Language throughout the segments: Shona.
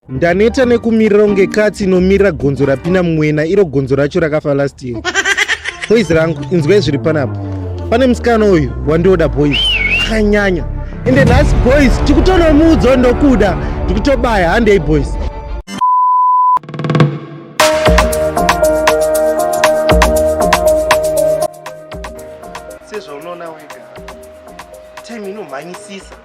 ndaneta nekumirira kunge katsi inomirira gonzo rapinda mumwena iro gonzo racho rakafa last year boys rangu inzwai zviri panapa pane musikana uyu wandioda boys akanyanya ende nhasi boys tikutonomuudzo ndokuda ndikutobaya handei boys sezvaunoona wega time inomhanyisisa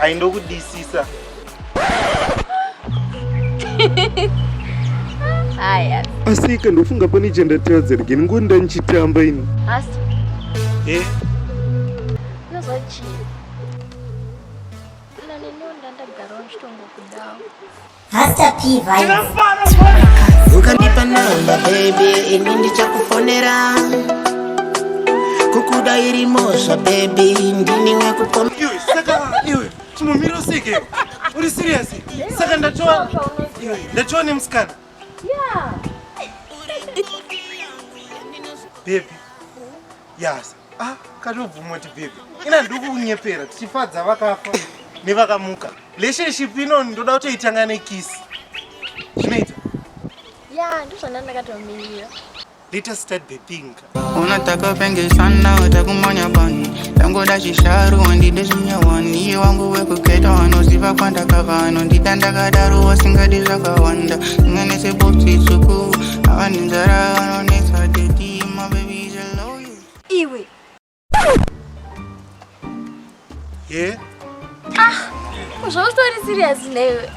aindokudisisa haya asi ika ndofunga pane chandatadza rigeni ngo ndanichitamba ini asi eh unozochii nani ndiwo ndandagarawo ndichitongokudawo Hasta P vibes. Ukandipa namba baby, ini ndichakufonera. Kukuda iri mosha baby, ndini wekupoma. Iwe saka iwe chimumiro usike. Uri serious? Saka ndatoa ndatoa nemusikana. Yeah. Baby. Yes. Ah, katobvuma kuti baby. Ina ndikunyepera tichifadza vakafa nevakamuka. Relationship ino ndoda kutoitanga nekiss. Zvinoita? Yeah, ndozvana ndakatomirira. Let us start the thing. Unataka penge sana utakumanya bani. Tango dashi sharu wandi deshinya wani. Iye wangu weku keta wano ziva kwanda kavano. Ndita ndaka daru wa singa disa kawanda. Singa nese bopsi suku. Awani nzara wano nesa deti. iwe ye ah zvautori serious newe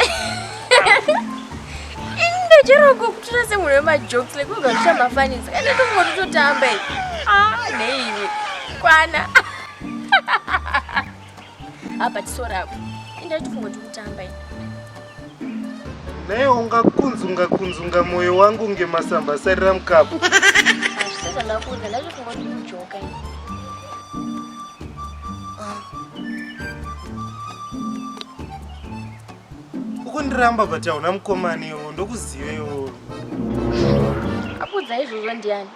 ndocherongo kutora semunhu wemajokes like unga zvichamafanisa kana tongoti totamba i ah neiwe kwana Apa tiso rako. Inda tifungo tikutamba ini. Naye ungakunzunga kunzunga moyo wangu ngemasamba sarira mukapu. Sasa ndakuudza ndazvifungo tikujoka ini. Ukundiramba but hauna mukomana iwo ndokuziva iwo. Akudza izvozvo ndiani?